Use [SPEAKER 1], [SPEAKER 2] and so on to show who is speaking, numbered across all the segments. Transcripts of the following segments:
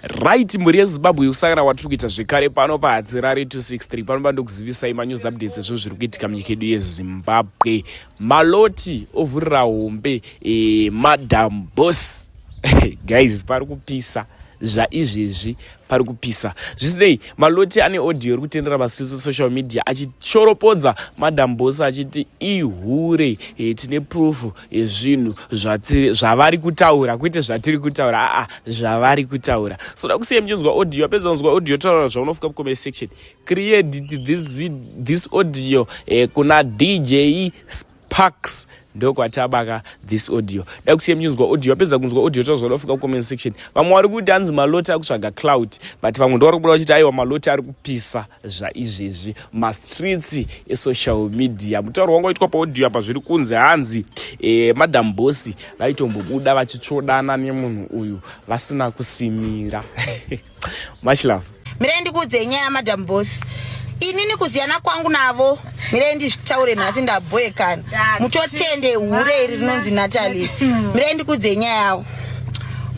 [SPEAKER 1] right mhuri yezimbabwe yekusangana kwatiri kuita zvekare pano pahadzirari 263 pano pandokuzivisai manews updates ezvinhu zviri kuitika munyika yedu yezimbabwe maloti ovhurira hombe e, madam bos guys pari kupisa zvaizvezvi pari kupisa zvisinei maloti ane audio iri kutendera pasi rese social media achishoropodza madam bos achiti ihure e, tine prufu ezvinhu zvatiri zvavari kutaura kwete zvatiri kutaura aa zvavari kutaura so da kusiya muchinzwa audio apedza kunzwa audio taura zvaunofuka mucomment section create this, this audio eh, kuna dj sparks ndokwatabaka this audio da kusiya muchinzwa audio apedza kunzwa audio taura zvaunofuka mucomment section vamwe vari kuti hanzi maloti akutsvaga cloud but vamwe ndovari kubuda vachiti aiwa maloti ari kupisa zvaizvezvi mastreets esocial media mutauro wanga waitwa paaudio apa zviri kunzi hanzi e, madam bosi vaitombobuda vachitsvodana nemunhu uyu vasina kusimira much love mirai ndikuudzei nyaya
[SPEAKER 2] yamadam bosi inini kuziyana kwangu navo mirai ndizvitaure nhasi ndabhoekana mutotende hure iri rinonzi natali mirai ndikudze nyaya yawo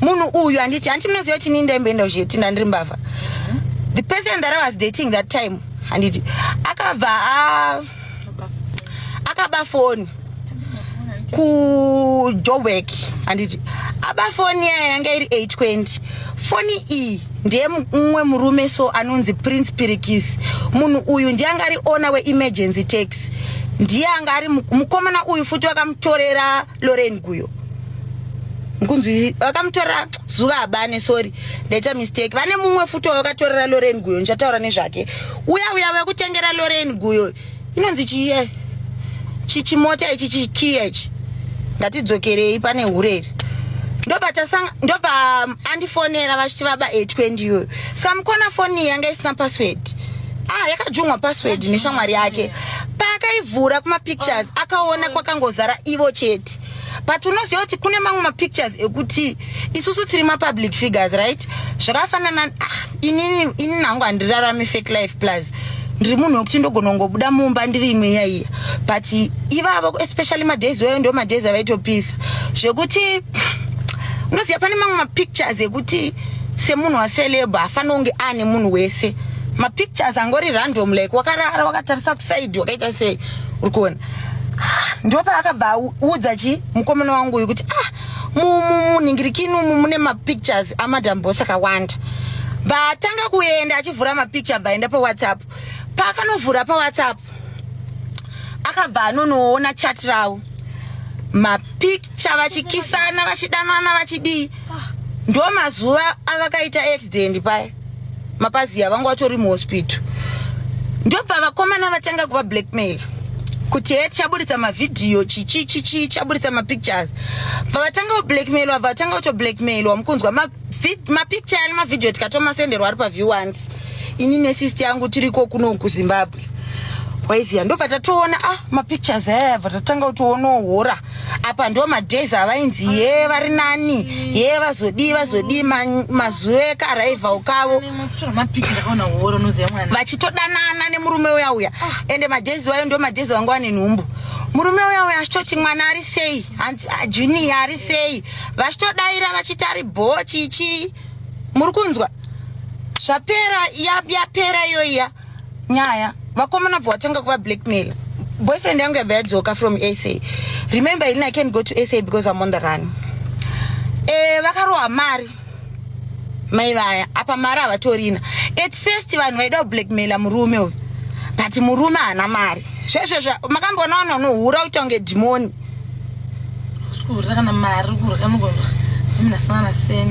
[SPEAKER 2] munhu uyu handiti hanti munoziva kuti nii ndaimboenda kuzhetinda ndiri mbavha the person that i was dating that time handiti akabva akaba foni kujoburg handiti aba foni yaya yanga iri 820 foni iyi ndiye mumwe murume so anonzi prince pirikis munhu uyu ndiye anga ari ona weemergency tax ndiye anga ari mukomana uyu futi vakamutorera loren guyo kunzi vakamutorera zuva abane sorry ndaita mistake vane mumwe futi wavakatorera loren guyo ndichataura nezvake uya uya vekutengera loren guyo inonzi chiye chichimota ichi chikiya ichi ngatidzokerei pane hureri ndopa um, andifonera vachiti vaba 820 iyoyo sa mukona foni yanga isina password ah yakajungwa password neshamwari yake paakaivhura kumapictures akaona kwakangozara ivo chete but unoziva kuti kune mamwe mapictures ekuti isusu tiri mapublic figures right zvakafanana ah, inini inini hangu handirarami fake life plus ndiri munhu wekuti ndogona kungobuda mumba ndiri imwe yaiya but ivavo especially madays wayo ndo madays avaitopisa zvekuti unoziva pane mamwe mapictures ekuti semunhu waceleba hafanira kunge ane munhu wese mapictures angori random like wakarara wakatarisa kusaidi wakaita sei uri kuona ndopaakabva audza chi mukomana wangu uyu kuti ah muningirikini umu mune mapictures amadam bos akawanda vatanga kuenda achivhura mapicture bvaenda pawhatsapp paakanovhura pawhatsapp akabva anonoona chat ravo mapicture vachikisana vachidanana vachidii ndomazuva avakaita accident paya mapaziya vanga vatori muhospital ndobva vakomana vatanga kuva blackmail kuti he tichaburitsa mavhidhiyo chichichichi chaburitsa mapictures bva vatanga kublackmailwa bva vatanga kutoblackmailwa mukunzwa mapicture ari mavhidhiyo tikatomasenderwa ari paview once ini nesisti yangu tiriko kuno kuzimbabwe waiziya ndobva tatoona ah mapictures aya bva tatanga kutoonawo hora apa ndo madays avainzi ye vari nani ye vazodii vazodii mazuva ekarival kavo vachitodanana nemurume uya uya ah. ende madays wayo ndo madays vanga wane nhumbu murume uya uya achitoti mwana ari sei hanzi ah, junior ari sei vachitodaira vachiti ari bho chichii muri kunzwa zvapera yapera iyoiya nyaya vakomana bva watanga kuva blackmail boyfriend yangu yabva yadzoka from sa remember ini i can't go to sa because i'm on the run e, vakarohwa mari mai vaya apa mari havatorina at first vanhu vaida kublackmaila murume uyu but murume haana mari zvezvezvo makamboona ona unohura kuita kunge dhimoni kurya kana mari kurya nokurya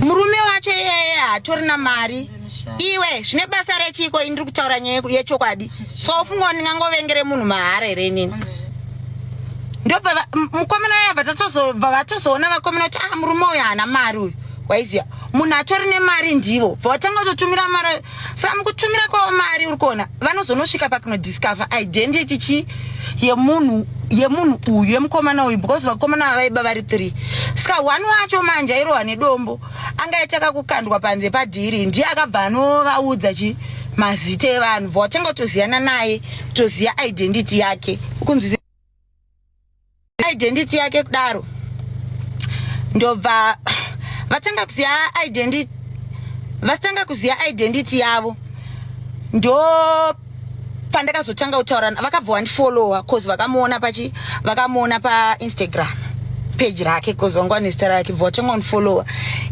[SPEAKER 2] murume wacho iyeye hatorina mari iwe zvine basa rechiiko ini ndiri kutaura nyaya yechokwadi so ufunga kuti ndingangovengere munhu mahara here inini ndobva mukomana yabva tatozobva vatozoona vakomana kuti ah murume uyu haana mari uyu waiziva munhu atori nemari ndivo bva watanga kutotumira mari saka mukutumira kwavo mari uri kuona vanozonosvika pakunodiscover identity chi yemunhu yemunhu uyu yemukomana uyu because vakomana vavaiba vari three saka one wacho manje airohwa nedombo anga yataka kukandwa panze padhiri ndiye akabva anovaudza chi mazita evanhu bva watanga kutoziyana naye kutoziva identity yake ukunzwi identity yake kudaro ndobva vatanga kuziva identity vatanga kuziva identity yavo ndo pandakazotanga kutaura vakabva wandifollowa cause vakamuona pachi vakamuona painstagram page rake cause wanga ane zita rake bva watanga unfollowa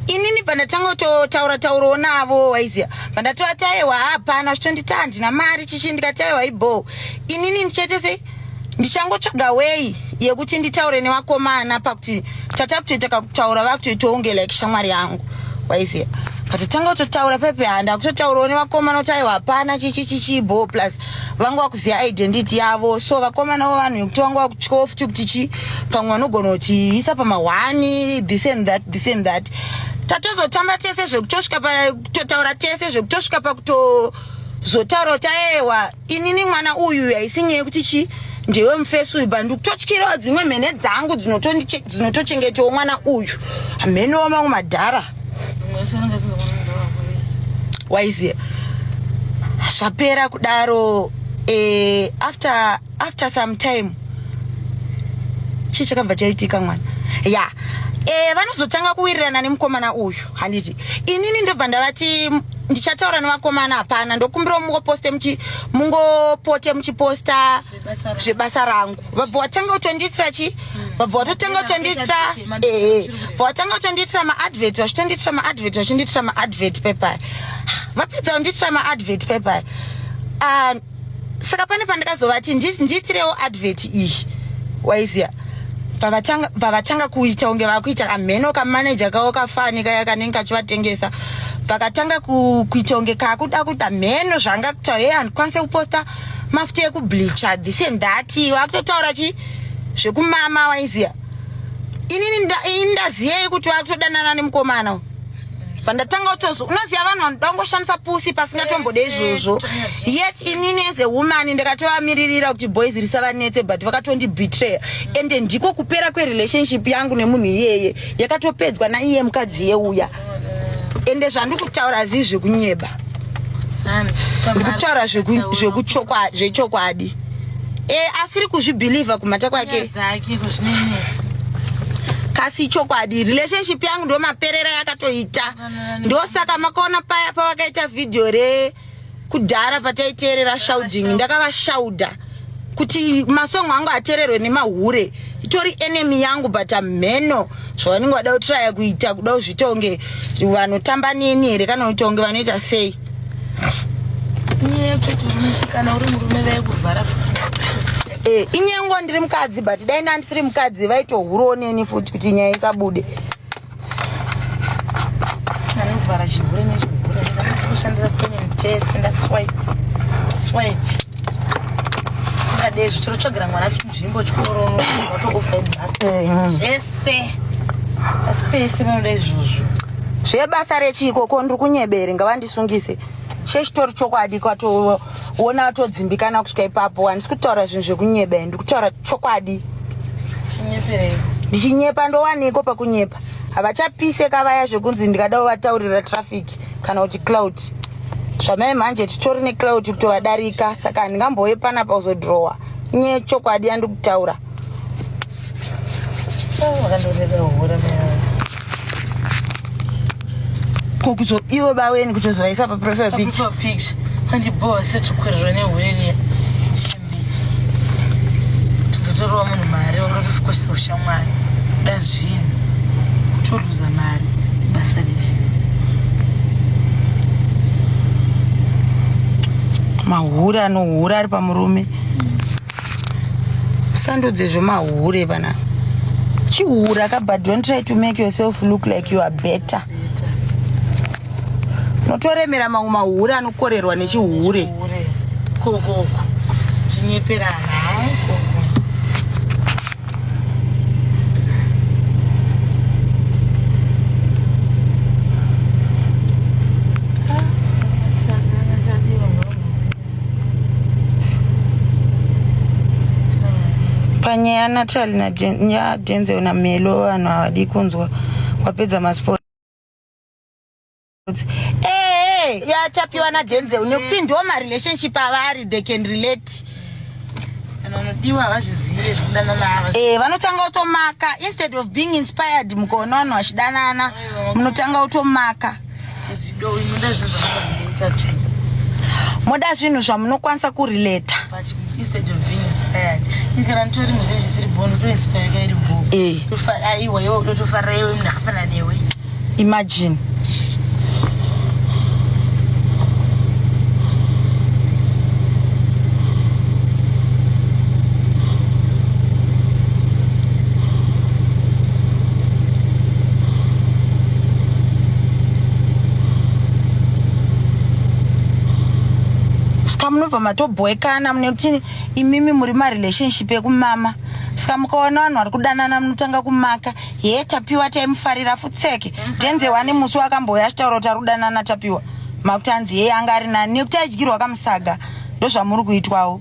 [SPEAKER 2] inini pandatanga kutotaura taurawo navo waiziva pandatova taiwa hapana zvitonditi handina mari chichi ndikati aiwa ibhoo inini ndichaite sei ndichangotsvaga wei yekuti nditaure nevakomana pakuti tatakutoita kakutaura vakutoitawo unge like shamwari yangu waiziva patotanga kutotaura pepe handa kutotaurawo nevakomana kuti aiwa hapana chichichichibo plus vanga vakuziva identity yavo so vakomanawo vanhu yekuti vanga vakutyawo futi kuti chi pamwe vanogona kuti isa pamahwani this and that this and that tatozotamba tese zvekutosvika pakutotaura tese zvekutosvika pakutozotaura kuti aewa inini mwana uyu uyu haisi nyaya yekuti chii ndewe mufesi uyu but ndikutotyirawo dzimwe mhene dzangu dzinotochengetawo mwana uyu hamhenowo mamwe madhara waiziva zvapera kudaro eh, after after some time chii chakabva chaitika mwana ya yeah. eh, vanozotanga kuwirirana nemukomana uyu handiti inini ndobva ndavati ndichataura nevakomana hapana ndokumbirawo mungoposte muchi mungopote muchiposta zvebasa rangu vabva watanga kutondiitira chii hmm. vabva watotanga kutondiitira ehe bva watanga kutondiitira maadvert vachitondiitira maadvert vachindiitira maadvert pepaya vapedza kundiitira maadvert pepaya ah, saka pane pandakazovati ndiitirewo advert iyi waiziva pavatanga kuita kunge vakuita kamheno kamanaja kavo kafani kaya kanenge kachivatengesa vakatanga kuita kunge kakuda kuita mheno zvanga kutaura e handikwanise kuposta mafuta ekubleacha this and that vakutotaura chi zvekumama waiziva inini ndaziyei kuti vakutodanana nemukomana pandatanga utozi unoziva vanhu vanoda kungoshandisa pusi pasingatombode izvozvo yet inini as a woman ndakatovamiririra kuti boys risavanetse but vakatondibetray and ndiko kupera kwerelationship yangu nemunhu iyeye yakatopedzwa naiye mukadzi yeuya ende zvandikutaura zii zvekunyeba ndikutaura zvechokwadi e asiri kuzvibhilivha kumhata kwake kasi chokwadi relationship yangu ndo maperera yakatoita ndosaka makaona paya pavakaita vhidhiyo re kudhara pataiteerera shauding ndakavashauda kuti masongo angu ateererwe nemahure itori enemy yangu but amheno zvavanenge vada kutraya kuita kuda kuzviita kunge vanotamba neni here kana kuita kunge vanoita sei
[SPEAKER 3] kana uri murume vaikuvhara futi eh,
[SPEAKER 2] inyengo ndiri mukadzi but dai ndandisiri mukadzi vaitohurawo neni futi kuti nyaya isabude
[SPEAKER 3] anovhara chihure nechigure ndaakushandisa stone and pese ndaswipe swipe Singadezvi chiro chogira mwana chinzvimbo chikoro unotokufa ibasa. Eh, mm. Zvese. Asi pese vanoda izvozvo. Zvebasa
[SPEAKER 2] rechiko ko ndiri kunyebere ngavandisungise. Chechitori chokwadi kwatoona watodzimbikana kusvika ipapo handisi kutaura zvinhu zvekunyebera ndiri kutaura chokwadi. Chinyeperei? ndichinyepa ndowaniko pakunyepa havachapiseka vaya zvekunzi ndikada uvataurira traffic kana kuti cloud zvamai manje titori necloud kutovadarika saka handingambove panapa kuzodrowa nye chokwadi yandikutaura ko kuzo ivo baweni kutozovaisa paprofile picture
[SPEAKER 3] Tizotorewa munhu mari wakarotofikosisa ushamwari kuda zvinhu kutoluza mari basa riri
[SPEAKER 2] mahure anohure ari pamurume musandudze zvemahure panapa chihure akabhadhwa and try to make yourself look like you are better Notoremera mamwe mahure anokorerwa nechihure. Koko
[SPEAKER 3] chinyeperana haiko.
[SPEAKER 2] panyaya yanatali nadenzel namelo vanhu havadi kunzwa wapedza masport ee eh, yachapiwa nadenzel nekuti ndo marelationship avari they can relate
[SPEAKER 3] vanodiwa havazvizive zvekudanana ava eh vanotanga
[SPEAKER 2] kutomaka instead of being inspired mukaona vanhu vachidanana munotanga kutomaka
[SPEAKER 3] moda
[SPEAKER 2] zvinhu zvamunokwanisa kurileta
[SPEAKER 3] imagine
[SPEAKER 2] ska munobva matobhoekana mune kuti imimi muri marelationship ekumama ska mukaona vanhu vari kudanana munotanga kumaka hee tapiwa taimufarira futseke mhm. denze wani musi wakambouya achitaura kuti ari kudanana tapiwa makuti anzi hee anga ari nani nekuti aidyirwa kamusaga ndozvamuri kuitwawo